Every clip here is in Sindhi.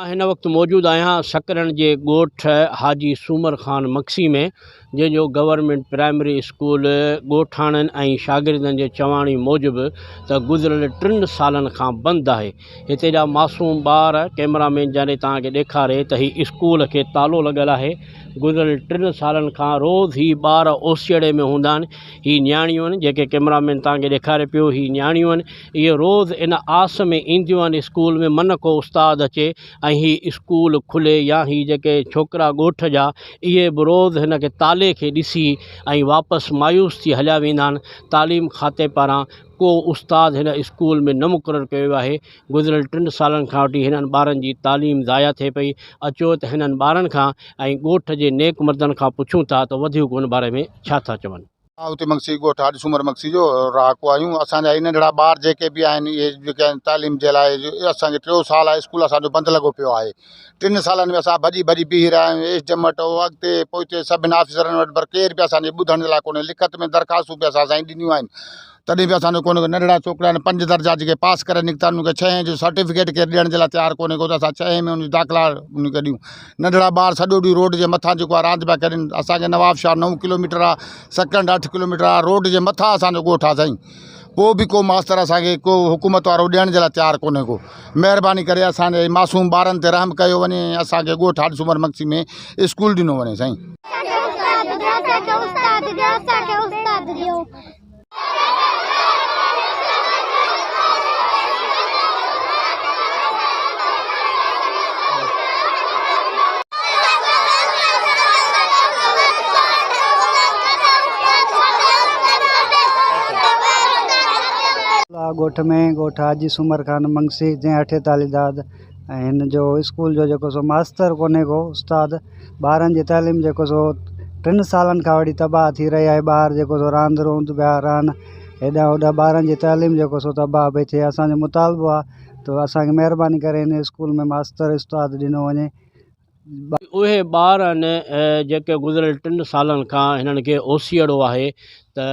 مان هن وقت موجود آهيان سڪرڻ جي ڳوٺ حاجي سومر خان مگسي ۾ جنهن جو گورنمينٽ پرائمري اسڪول ڳوٺاڻن ۽ شاگردن جي چواڻي موجب ته گذريل ٽن سالن کان بند آهي هتي جا معصوم ٻار ڪئميرا مين جنري توهان کي ڏيکاري ته هي اسڪول کي تالو لڳل آهي گذريل ٽن سالن کان روز هي ٻار اوسيئڙي ۾ هوندا آهن هي نياڻيون آهن جيڪي ڪئميرا مين توهان کي ڏيکاري پيو هي نياڻيون آهن اهي روز ان آس ۾ اينديون آهن اسڪول ۾ من ڪو استاد اچي ۽ هي اسڪول کلي يا هي جيڪي ڇوڪرا ڳوٺ جا اهي به روز هن کي تالي کي ڏسي ۽ واپس مايوس ٿي هليا ويندا آهن تعليم کاتي پاران ڪو استاد هن اسڪول ۾ نه مقرر ڪيو ويو آهي گذريل ٽن سالن کان وٺي هنن ٻارن جي تعليم ضايع ٿئي پئي اچو ته هنن ٻارن کان ۽ ڳوٺ جي نيڪ مردن کان پڇون ٿا ته وڌيڪ ان باري ۾ ڇا ٿا چون. آهوتي مگسي ڳوٺ هاڏ سومر مگسي جو رهاڪو آهيون اسان جا هي ننڍڙا ٻار جيڪي به آهن اهي جيڪي آهن تعليم جي لاء اسان کي ٽيو سال اسڪول اسان جو بند لڳو پيو آهي ٽن سالن ۾ اسان ڀڄي ڀڄي بيهي رهيا آهيون، ايش جمٽ، او اڳتي، پوئتي سڀني آفيسرن وٽ پر ڪير به اسان جي ٻڌڻ لاء ڪونهي، لکت ۾ درخواستون به اسان سائين ڏنيون آهن تڏهن به اسان جو ڪونهي ڪو، ننڍڙا ڇوڪرا آهن پنج درجا جيڪي پاس ڪري نڪتا آهن انهن کي ڇهين جو سرٽيفڪيٽ ڪير ڏيڻ جي لاء تيار ڪونهي ڪو ته اسان ڇهين ۾ انهن جي داخلا انهن کي ڏيون، ننڍڙا ٻار سڄو ڏينهن روڊ جي مٿان جيڪو آهي راند پيا ڪرين، اسان کي نوابشاهه نو ڪلوميٽر آهي، سڪنڊ اٺ ڪلوميٽر آهي، روڊ جي مٿان اسان جو ڳوٺ آهي سائين. پوء به ڪو ماستر اسان کي ڪو حڪومت وارو ڏيڻ جي لاء تيار ڪونهي ڪو مهرباني ڪري اسان جي معصوم ٻارن تي رحم ڪيو وڃي ۽ اسان کي ڳوٺ هاڏ سومر مگسي ۾ اسڪول ڏنو وڃي سائين. لاء ڳوٺ ۾ ڳوٺ حاجي سومر خان منگسي جنهن اٺي تعليم داد ۽ هن جو اسڪول جو جيڪو سو ماستر ڪونهي ڪو استاد ٻارن جي تعليم جيڪو سو ٽن سالن کان وٺي تباهه ٿي رهي آهي ٻار جيڪو سو راند روند ٻيا راند هيڏانهن هوڏانهن ٻارن جي تعليم جيڪو سو تباهه پئي ٿئي اسانجو مطالبو آهي ته اسان کي مهرباني ڪري هن اسڪول ۾ ماستر استاد ڏنو وڃي ٻه. اهي ٻار آهن جيڪي گذريل ٽن سالن کان هنن کي اوسيئڙو آهي ته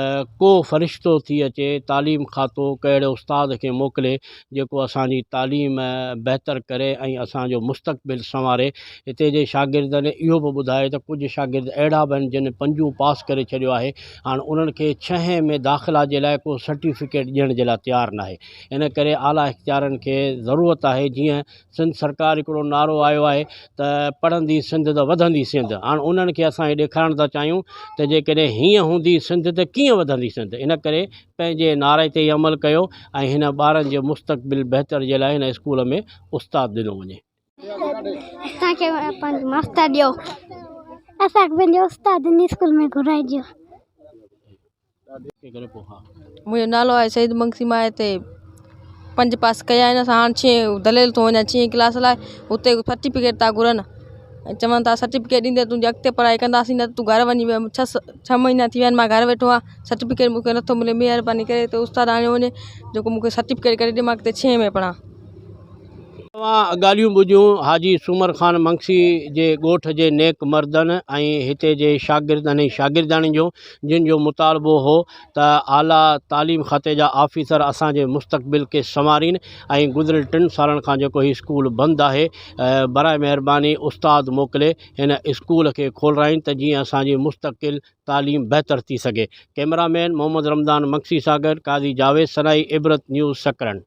ڪو فرشتو ٿي اچي تعليم کاتو ڪنهن اهڙي استاد کي موڪلي جيڪو اسان جي تعليم بهتر ڪري ۽ اسان جو مستقبل سنواري هتي جي شاگردن اهو به ٻڌائي ته ڪجهه شاگرد اهڙا به آهن جن پنجون پاس ڪري ڇڏيو آهي هاڻ انهن کي ڇهين ۾ داخلا جي لاء ڪو سرٽيفڪيٽ ڏيڻ جي لاء تيار ناهي. ان ڪري اعليٰ اختيارين کي ضرورت آهي جيئن سنڌ سرڪار هڪڙو نعرو آيو آهي ته پڙهندي سنڌ ته وڌندي سنڌ هاڻ انهن کي اسان هي ڏيکارڻ ٿا چاهيون ته جيڪڏهن هيئن هوندي سنڌ ته ڪيئن وڌندي سنڌ ان ڪري پنهنجي نعري تي ئي عمل ڪيو ۽ هن ٻارن جي مستقبل بهتر جي لاء هن اسڪول ۾ استاد ڏنو وڃي. اسان کي پنهنجو ماستر ڏيو. اسان کي پنهنجو استاد هن اسڪول ۾ گهرائجو. منهنجو نالو آهي سعيد منگسي مان هتي پنج پاس ڪيا آهن اسان هاڻ ڇهين دليل ٿو وڃان ڇهين ڪلاس لاء اتي سرٽيفڪيٽ ٿا گهرن ۽ چون ٿا سرٽيفڪيٽ ڏيندي تنهنجي اڳتي پڙهائي ڪنداسين نه ته تون گهر وڃي ويهه ڇهه ڇهه مهينا ٿي ويا آهن مان گهر ويٺو آ سرٽيفڪيٽ مونکي نٿو ملي مهرباني ڪري تون استاد آڻي وڃي جيڪو مونکي سرٽيفڪيٽ ڪري ڏي مان اڳتي ڇهين ۾ پڙهان جن جو مطالبو هو ته اعليٰ تعليم کاتي جا آفيسر اسان جي مستقبل کي سنوارين ۽ گذريل ٽن سالن کان جيڪو هي اسڪول بند آهي براء مهرباني استاد موڪلي هن اسڪول کي کولرائين ته جيئن اسان جي مستقل تعليم بهتر ٿي سگهي ڪئميرا مين محمد رمضان مگسي سان گڏ قاضي جاويد سنائي عبرت نيوز سڪرنڊ.